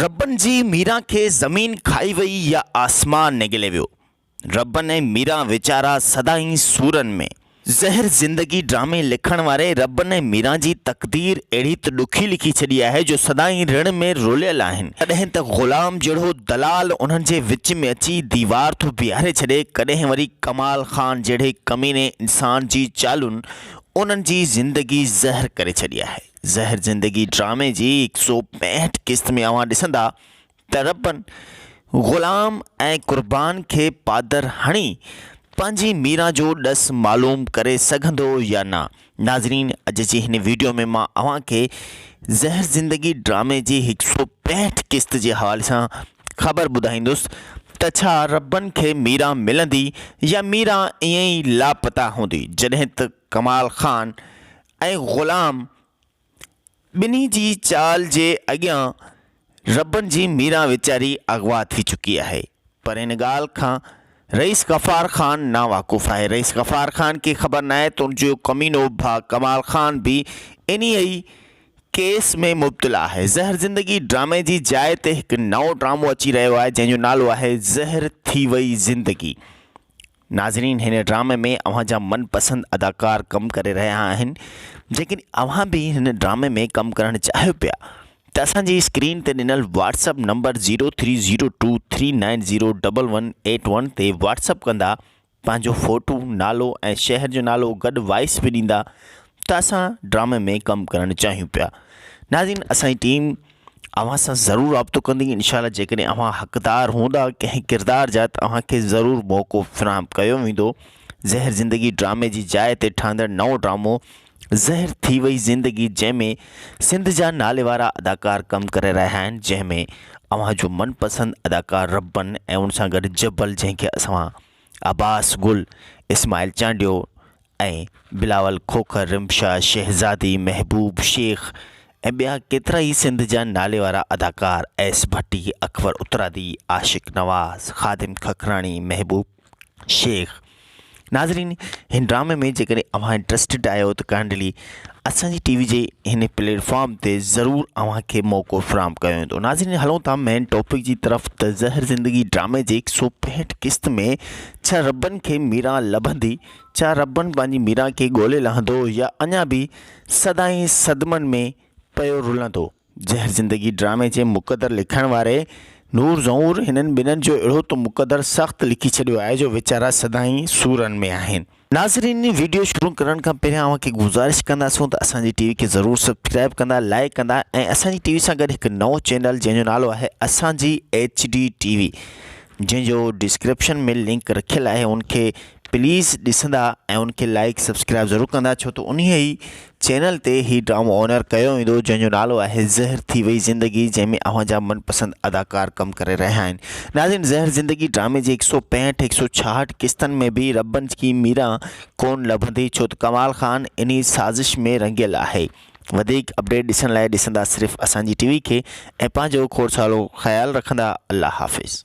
ربن جي ميران کي زمين کائي وئي يا آسمان نگلي ويو. ربن ۽ ميران ويچارا سدائين سورن ۾. زهر زندگي ڊرامي لکڻ واري ربن ۽ ميران جي تقدير اهڙي ته ڏکي لکي ڇڏي آهي جو سدائين رڻ ۾ روليل آهن. ڪڏهن ته غلام جهڙو دلال انهن جي وچ ۾ اچي ديوار ٿو بيهاري ڇڏي ڪڏهن وري ڪمال خان جهڙي ڪميني انسان جي چالون انهن جي زندگي زهر ڪري ڇڏي آهي. زهر زندگي ڊرامي جي هڪ سو پينهٺ قسط ۾ اوهان ڏسندا ته ربن غلام ۽ قربان کي پادر هڻي پنهنجي ميران جو ڏس معلوم ڪري سگهندو يا نه. ناظرين اڄ جي هن ويڊيو ۾ مان اوهان کي زهر زندگي ڊرامي جي هڪ سو پينهٺ قسط جي حوالي سان خبر ٻڌائيندس ته ڇا ربن کي ميران ملندي يا ميران ائين ئي لاپتا هوندي جڏهن ته ڪمال خان ۽ غلام ٻنهي جي چال جي اڳيان ربن جي ميران ويچاري اغوا ٿي چڪي آهي. پر ان ڳالهه کان رئيس غفار خان ناواقف آهي. رئيس غفار خان کي خبر ناهي ته ان جو ڪمينو ڀاء ڪمال خان به انهيء ئي ڪيس ۾ مبتلا آهي. زهر زندگي ڊرامي جي جاء تي هڪ نئون ڊرامو اچي رهيو آهي جنهن جو نالو آهي زهر ٿي وئي زندگي. ناظرين هن ڊرامي ۾ اوهان جا من پسند اداڪار ڪم ڪري رهيا آهن جيڪڏهن اوهان به هن ڊرامي ۾ ڪم ڪرڻ چاهيو پيا ته اسان جي اسڪرين تي ڏنل WhatsApp number zero three zero two three nine zero double one eight one تي واٽس اپ ڪندا پنهنجو فوٽو نالو ۽ شهر جو نالو گڏ وائس به ڏيندا ته اسان ڊرامي ۾ ڪم ڪرڻ چاهيون پيا ناظرين اسان جي ٽيم اوهان سان ضرور رابطو ڪندي انشاء الله جيڪڏهن اوهان حقدار هوندا ڪنهن ڪردار جا ته اوهان کي ضرور موقعو فراهم ڪيو ويندو زهر زندگي ڊرامي جي جاء تي ٺهندڙ نئون ڊرامو زهر ٿي وئي زندگي جنهن ۾ سنڌ جا ناليوارا اداڪار ڪم ڪري رهيا آهن جنهن ۾ اوهان جو من پسند اداڪار ربن ۽ ان سان گڏ جبل جنهن کي اسان عباس گل اسماعيل چانڊيو ۽ بلاول کوکر، رمشا شهزادي، محبوب شيخ ۽ ٻيا ڪيترا ئي سنڌ جا ناليوارا اداڪار ايس ڀٽي، اڪبر اترادي، عاشق نواز، خادم ککراڻي، محبوب شيخ. ناظرين هن ڊرامي ۾ جيڪڏهن اوهان انٽرسٽيڊ آهيو ته ڪائنڊلي اسان جي ٽي وي جي هن پليٽ فارم تي ضرور اوهان کي موقعو فراهم ڪيو ويندو. ناظرين هلون ٿا مين ٽاپڪ جي طرف ته زهر زندگي ڊرامي جي هڪ سؤ پنهٺ قسط ۾ ڇهه ربن کي ميران لڀندي، ڇا ربن پنهنجي ميران کي ڳولي لهندو يا اڃا به سدائين صدمن ۾ پيو رلندو؟ زهر زندگي ڊرامي جي مقدر لکڻ واري نور زهور هنن ٻنهن جو اهڙو ته مقدر سخت لکي ڇڏيو آهي جو ويچارا سدائين سورن ۾ آهن. ناظرين وڊيو شروع ڪرڻ کان پهريان اوهان کي گذارش ڪنداسون ته اسان جي ٽي وي کي ضرور سبسڪرائب ڪندا لائيڪ ڪندا ۽ اسان جي ٽي وي سان گڏ هڪ نئون چينل جنهن جو نالو آهي اسان جي ايڇ ڊي ٽي وي جنهن جو ڊسڪرپشن ۾ لنڪ رکيل آهي ان کي پليز ڏسندا ۽ ان کي لائيڪ سبسڪرائيب ضرور ڪندا ڇو ته انهي ئي چينل تي هي ڊرامو اونر ڪيو ويندو جنهن جو نالو آهي زهر ٿي وئي زندگي جنهن ۾ اوهان جا من پسند اداڪار ڪم ڪري رهيا آهن ناظرين زهر زندگي ڊرامي جي هڪ سئو پينهٺ هڪ سئو ڇاهٺ قسطن ۾ به ربن جي ميرا ڪون لڀندي ڇو ته ڪمال خان انهي سازش ۾ رنگيل آهي وڌيڪ اپڊيٽ ڏسڻ لاء ڏسندا صرف اسان جي ٽي وي کي ۽ پنهنجو کوڙ سارو خيال رکندا الله حافظ.